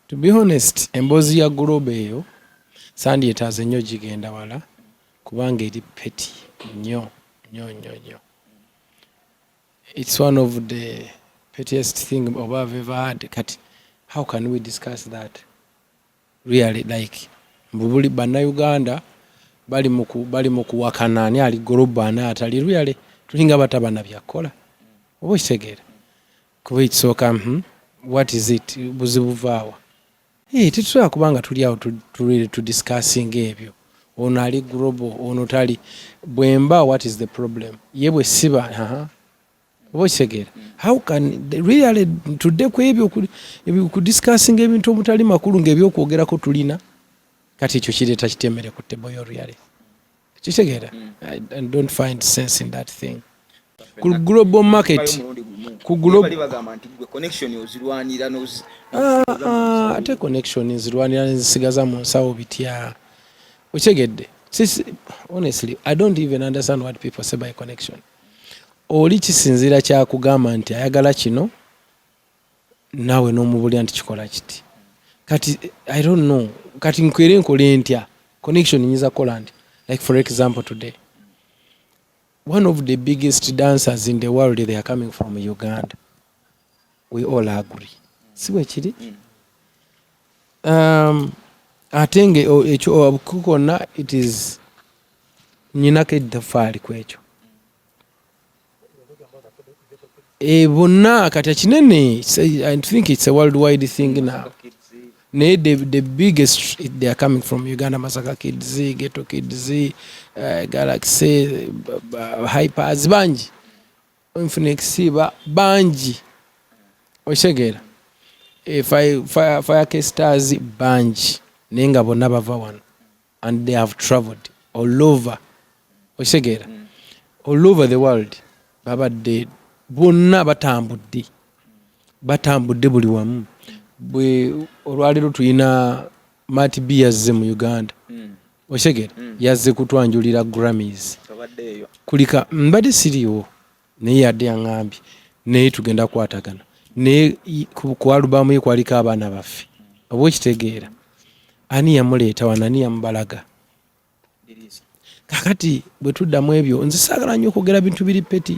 To be honest, emboozi ya guloba eyo sandyetaaze nnyo gigenda wala kubanga eri peti nnyo nnyo nnyo nnyo. It's one of the pettiest thing oba I've ever had kati how can we discuss that really like mbubuli bannayuganda bali mu kuwakana ani ali goloba ani atali really tulinga batabana byakkola oba okitegeera kuba ekisooka mhm. what is it buzibu vaawa eh, tetusobola kuba nga tuli awo tudiscassinga ebyo ono ali global ono tali bwemba what is the problem ye bwe siba oba okitegeera how can really tudde ku ebyo kudiscassinga ebintu omutali makulu ngaebyokwogerako tulina kati ekyo kireeta kitemere ku table yo reality kitegeera i don't find sense in that thing ku global market ku global bagamba nti gwe connection ozirwanira no ah, ah, ate connection nzirwanira nzisigaza mu nsawo bitya okitegedde sisi honestly i don't even understand what people say by connection oli kisinziira kyakugamba nti ayagala kino naawe n'omubulira nti kikola kiti kati i don't know kati nkwere nkole ntya connection nyinza kukola nti like for example today one of the biggest dancers in the world they are coming from uganda we all agree si bwekiri um, ate nga ekyo konna it is nyinako eddafaali ku ekyo e bonna kati ekinene i think it's a world wide thing now naye the, the biggest they are coming from uganda masaka kids geto kids uh, galaxy uh, hypers bangi infinex ba bangi okitegeera e, fire, fire, fire casters bangi naye nga bonna bava wano and they have traveled all over okitegeera mm. all over the world babadde bonna batambudde batambudde buli wamu bwe olwaleero tulina mati b yazze mu uganda mm. okitegeera mm. yazze kutwanjulira grammys kulika mbadde siriwo naye yadde yaŋambye naye tugenda kukwatagana naye ku alubamu ye kwaliko abaana baffe oba okitegeera ani yamuleeta wano ani yamubalaga kakati bwe tuddamu ebyo nze saagala nnyo okwogera bintu biri peti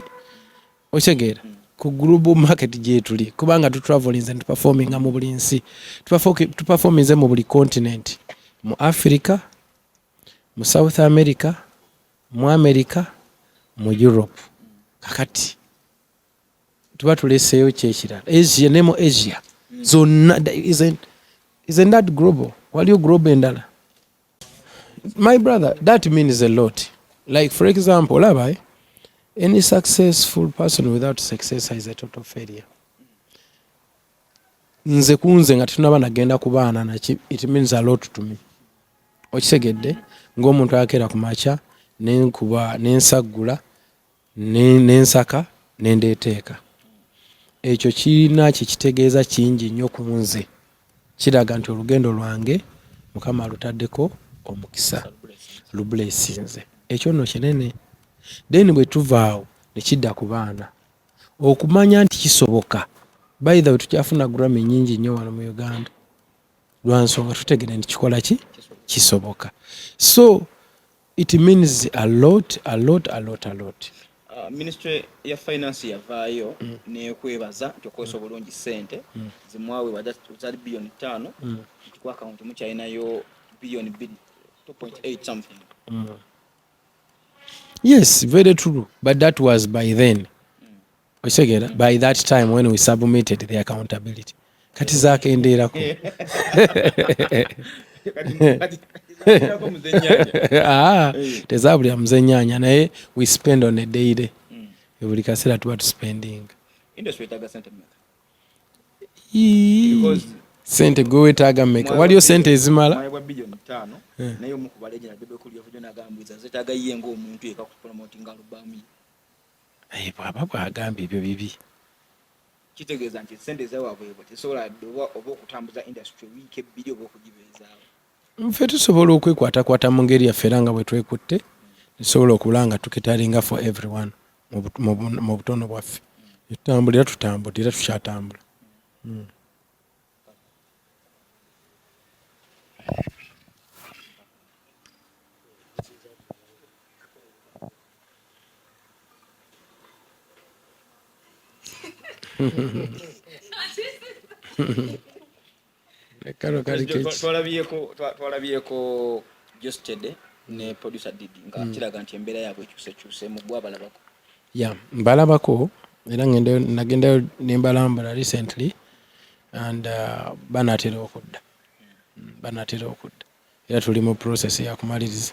okitegeera ku global market gyetuli kubanga tutravelinze netuperforminga mu buli nsi tuperforminze mu buli continent mu africa mu south america mu america mu europe kakati tuba tuleseeyo kyekirala asia ne mu asia zonna isn't that global waliyo global endala my brother that means a lot like for example olaba eh? any successful person without success is a total failure nze kunze nga tetunaba nagenda ku baana naki it means a lot to me okitegedde ng'omuntu akeera ku makya nenkuba nensaggula nensaka nendeeteeka ekyo kirina kyekitegeeza kingi nnyo ku nze kiraga nti olugendo lwange mukama alutaddeko omukisa lubulesinze ekyo nno kinene then bwe tuvaawo ne kidda ku baana okumanya nti kisoboka by the way tukyafuna grammy nyingi nnyo wano mu uganda lwansonga tutegere nti kikola ki kisoboka so it means a lot a lot a lot a lot uh, ministry ya finance yavaayo mm. nekwebaza nti okozesa obulungi sente mm. zimwawe zali biliyoni ttaano mm. nti ku akawunti mukyalinayo biliyoni biri 2.8 something mm. yes very true but that was by then okitegera by that time when we submitted the accountability kati zakendeerako ah, tezabulira muzenyanya naye we spend on a daily buli kaseera tuba tuspending sente gwe wetaaga meka waliyo sente ezimala bwaba bwagambye ebyo bibi kitegeeza nti sente zawaabwebwe tesobola dde oba okutambuza industry wiiki ebbiri oba okugibeezaawo nfe tusobola okwekwatakwata mu ngeri yaffe era nga bwe twekutte tusobola okula nga tukitalinga for everyone mu butono bwaffe etutambula era tutambula era tukyatambula hmm. twalabyeko jostede ne mm. producer didi nga mm. kiraga nti embeera yaabwe ekyusekyusemu gwe abalabako ya mbalabako era nagendayo nembalambula recently and uh, banatera okudda mm. banatera okudda era tuli mu process yakumaliriza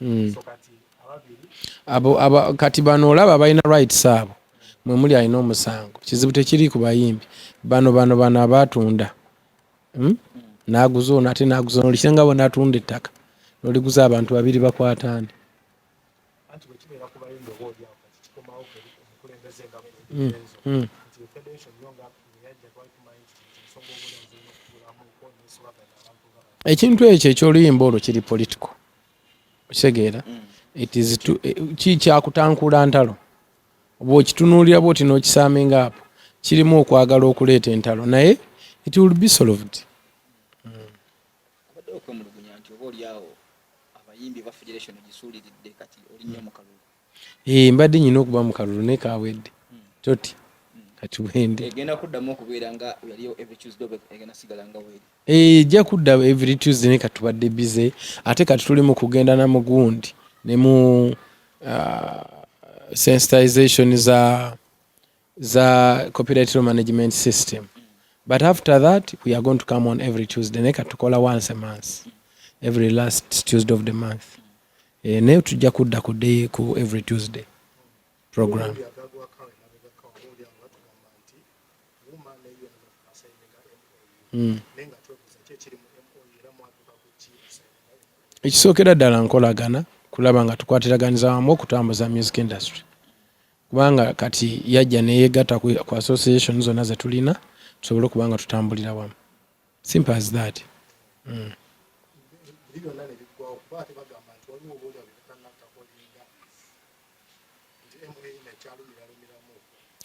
hmm. abo aba kati bano olaba balina rights abo mwe muli alina omusango kizibu tekiri ku bayimbi bano bano bano abatunda hmm? naguza ono ate naguza ono lisenga bona atunda ettaka noliguza abantu babiri bakwatani Mm. Mm. ekintu ekyo ekyoluyimba olwo kiri political okitegeera mm. kikyakutankula ntalo oba okitunuulira bwoti n'okisaminga apo kirimu okwagala okuleeta entalo naye it will be solved Eh mbadde nyina okuba mu kalulu ne kawedde. Toti. Kati bwende. Egenda kuddamu okubeera nga yali every Tuesday oba egenda sigala nga weeri. Eh ja kudda every Tuesday ne katubadde busy ate kati tuli mu kugenda na mugundi ne mu uh, sensitization za za copyright law management system but after that we are going to come on every tuesday naye katukola once a month every last tuesday of the month e, naye tujja kudda ku day ku every tuesday program mm. ekisookera ddala nkolagana kulaba nga tukwatiraganiza wamu okutambuza music industry kubanga kati yajja neyegatta ku association zonna zetulina tusobole okuba nga tutambulira wamu simple as that mm.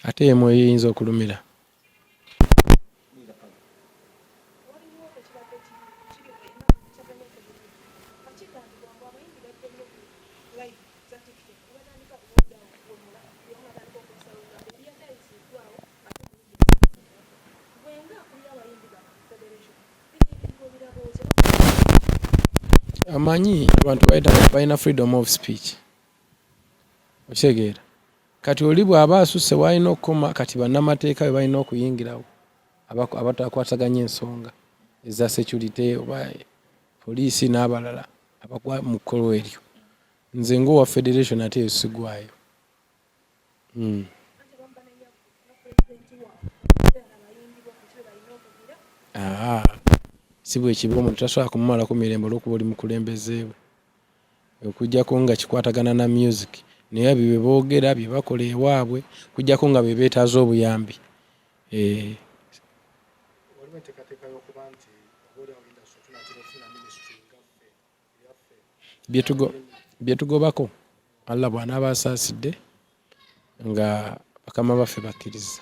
ate emu eyinza okulumira amanyi abantu balina freedom of speech okitegeera Kati oli bwaba asuse walina okukoma kati banamateeka bebalina okuyingirawo abatakwasaganya ensonga eza security oba poliisi n'abalala abagwa mu kkolwa eryo nze ngaowa federation ate eyo sigwayo hmm. si bwekiba omuntu tasobola kumumalako mirembe olwokuba oli mukulembezeewe okujjako nga kikwatagana na music naye ebyo byebogera byebakola ewabwe okujjako nga bebetaza obuyambi eh. byetugobako allah bwanaaba asaasidde nga bakama baffe bakkiriza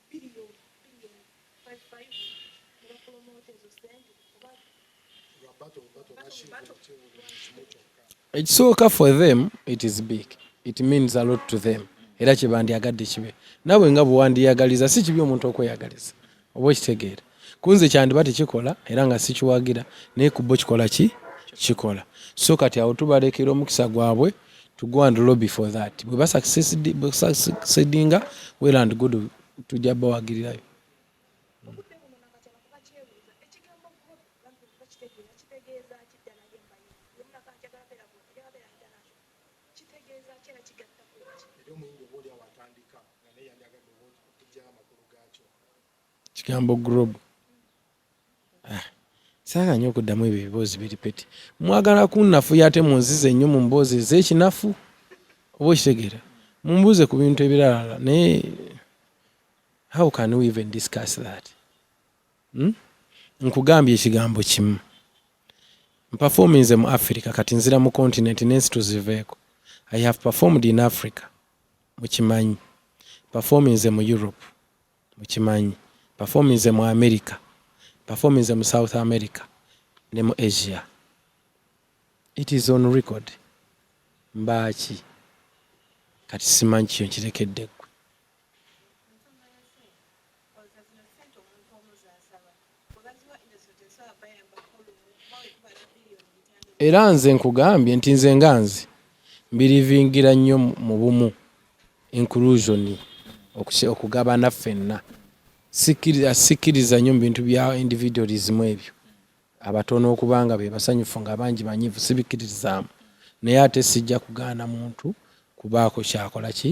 ekisooka for them it is big it means a lot to them era kyebandyagadde kibe nawe nga bwewandiyagaliza si kibi omuntu okweyagaliza oba okitegeera kunze kyandiba tekikola era nga sikiwagira naye kubbo kikola ki kikola so kati awo tubalekera omukisa gwabwe to go and lobby for that bwe basaksedinga well and good tujja bawagirirayo Kigambo group. Ah. Saga nyo kudamu ebyo bibozi biri peti. Mwagala kunnafu yate munzize nyo mu mbozi ezekinafu. Obo kitegera. Mumbuze ku bintu ebirala naye how can we even discuss that? Hmm? Nkugambye ekigambo kimu. Mperforminze mu Africa kati nzira mu continent nensi tuziveeko. I have performed in Africa. Mukimanyi. Performinze mu Europe. Mukimanyi performinze mu America, performinze mu South America ne mu Asia. It is on record. Mbaaki? Kati simanyi kyo nkirekedde gwe. era nze nkugambye nti nze nga nze mbirivingira nnyo mu bumu inclusion okugabana ffenna sikkiriza nnyo mu bintu bya individualism ebyo abatono okuba nga be basanyufu nga abangi banyivu sibikkiririzaamu naye ate sijja kugaana muntu kubaako kyakola ki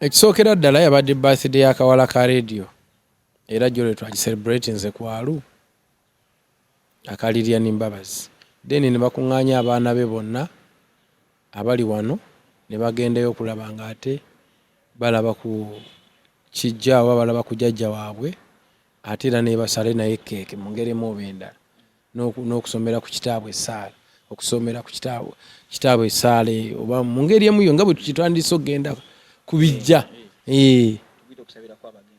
ekisookera ddala yabadde birthday ya kawala ka radio era jolwe twagiselebratinze kwalu aka Lilian Mbabazi then ne bakuŋŋaanya abaana be bonna abali wano ne bagendayo okulaba ng'ate balaba ku kijja oba balaba ku jajja waabwe ate era nebasale naye keeke mu ngeri emu oba endala n'okusomera ku kitaabwe essaala okusomera ku kitaabwe essaala eyo oba mu ngeri emu yo nga bwe tukitandise okugenda ku bijja eh.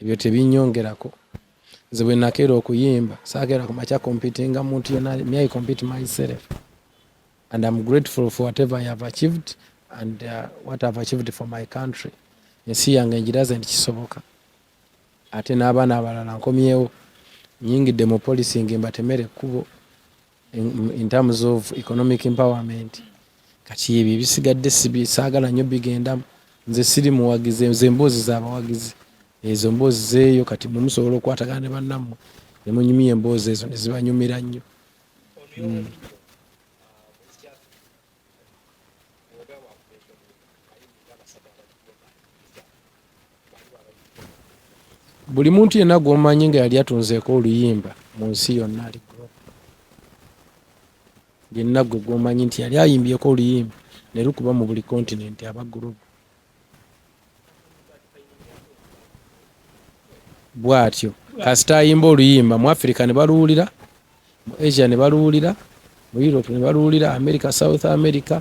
ebyo tebinyongerako nze bwe nakeera okuyimba sakeera kumakya competinga muntu yona me i compete myself and im grateful for whatever i have achieved and uh, what ihave achieved for my country ensi yange ngiraze nti kisoboka ate n'abaana abalala nkomyewo nyingidde mu polisingi mbatemere ekkubo in terms of economic empowerment kati ebyo ebisigadde saagala nnyo bigendamu nze siri muwagizi ezo emboozi zabawagizi ezo mboozi zeeyo kati mwe musobola okukwatagana ne bannammwe ne munyumya emboozi ezo ne zibanyumira nnyo hmm. buli muntu yenna gwomanyi nga yali atunzeeko oluyimba mu nsi yonna ali yenna gwe gwomanyi nti yali ayimbyeko oluyimba ne lukuba mu buli kontinenti aba gurupu bwatyo kasita ayimba oluyimba mu afirika ne baluwulira mu asia ne baluwulira mu europe ne baluwulira america south america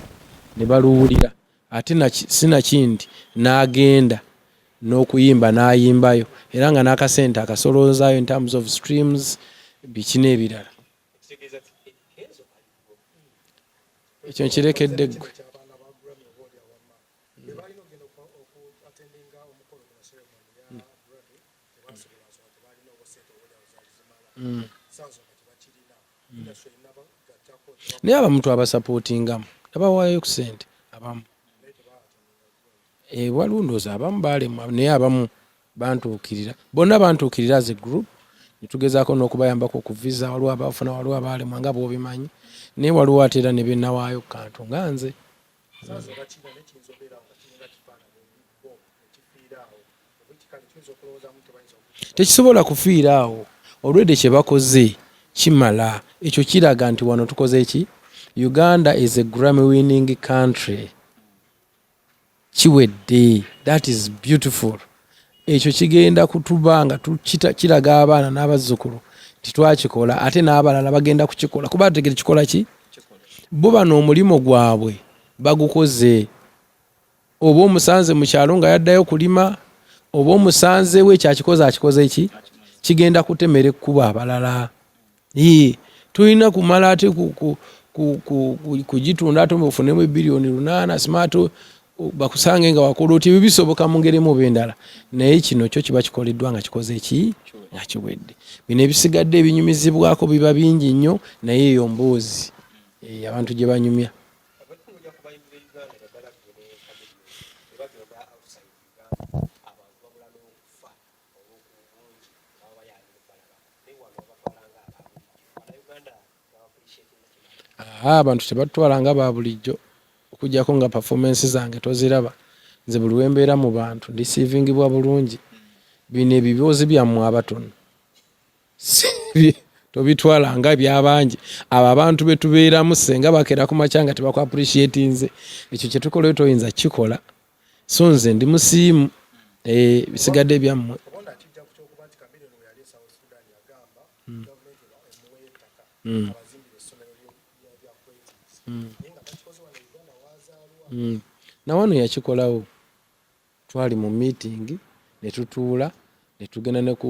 ne baluwulira ate sinakindi n'agenda n'okuyimba n'ayimbayo era nga n'akasente akasolonzayo in terms of streams biki n'ebirala ekyo nkirekedde ggwe bebalina ogenda okuatendinga omukolo gwa ceremony ya mm. brother tebasobola nsonga tebalina oba sente obodawo zaali zimala mm. sansonga tebakirina mm. industry erina bagattako naye abamuntu abasapotingamu tabawaayo ku sente abamu waliwo eh, ndoozi abamu baalemwa naye abamu bantuukirira bonna bantuukirira as a group netugezaako n'okubayambako ku visa waliwo abafuna waliwo abaalemwa nga bwobimanyi naye waliwo ate era ne byenawaayo ku kantu nga nze tekisobola kufiira awo olwedde kyebakoze kimala ekyo kiraga nti wano tukoze eki uganda is a grammy winning country kiwedde that is beautiful ekyo kigenda kutuba nga kiraga abaana n'abazzukulu titwakikola ate n'abalala bagenda kukikola kuba ategere kikola ki bo bano omulimu gwabwe bagukoze oba omusanze mu kyalo nga yaddayo kulima oba omusanzewo ekyakikoze akikoze ki kigenda kutemera ekkuba abalala Yii, tulina kumala ate kugitunda ate ofunemu ebiliyoni lunaana smart bakusange nga wakola otya ebyo bisoboka mu ngeri emu oba endala naye kino kyo kiba kikoleddwa nga kikoze ki nga kiwedde bino ebisigadde ebinyumizibwako biba bingi nnyo naye eyo mboozi eh, abantu gye banyumya abantu tebatutwala nga ba bulijjo okujjako nga performance zange toziraba nze buli wembeera mu bantu ndisiivingibwa bulungi bino ebiboozi byammwe abatono tobitwala nga ebyabangi abo abantu betubeeramu senga bakeera ku makya nga tebakuappreciatinze ekyo kyetukolayo toyinza kukikola so nze ndi musiimu eh, bisigadde byammwe hmm. Hmm. Hmm. nawano yakikolawo twali mu meeting netutuula netugenda neku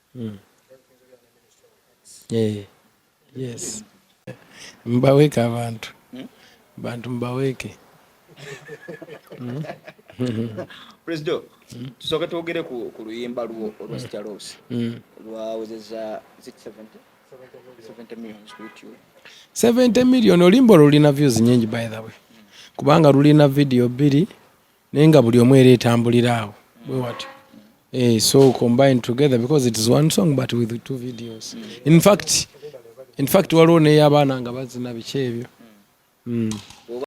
mm. yeah. yes mbaweeke abantu hmm? bantu mbaweeke hmm? prezido hmm? tusooke twogere ku luyimba lwo olwa staros lwawezeza 70 millions ku youtube 70 million olimba olulina views nyingi by the way kubanga lulina video bbiri naye nga buli omu era etambulira awo bwe watyo eh, so combine together because it is one song but with two videos in fact in fact waliwo neyabaana nga bazina biki ebyo mm.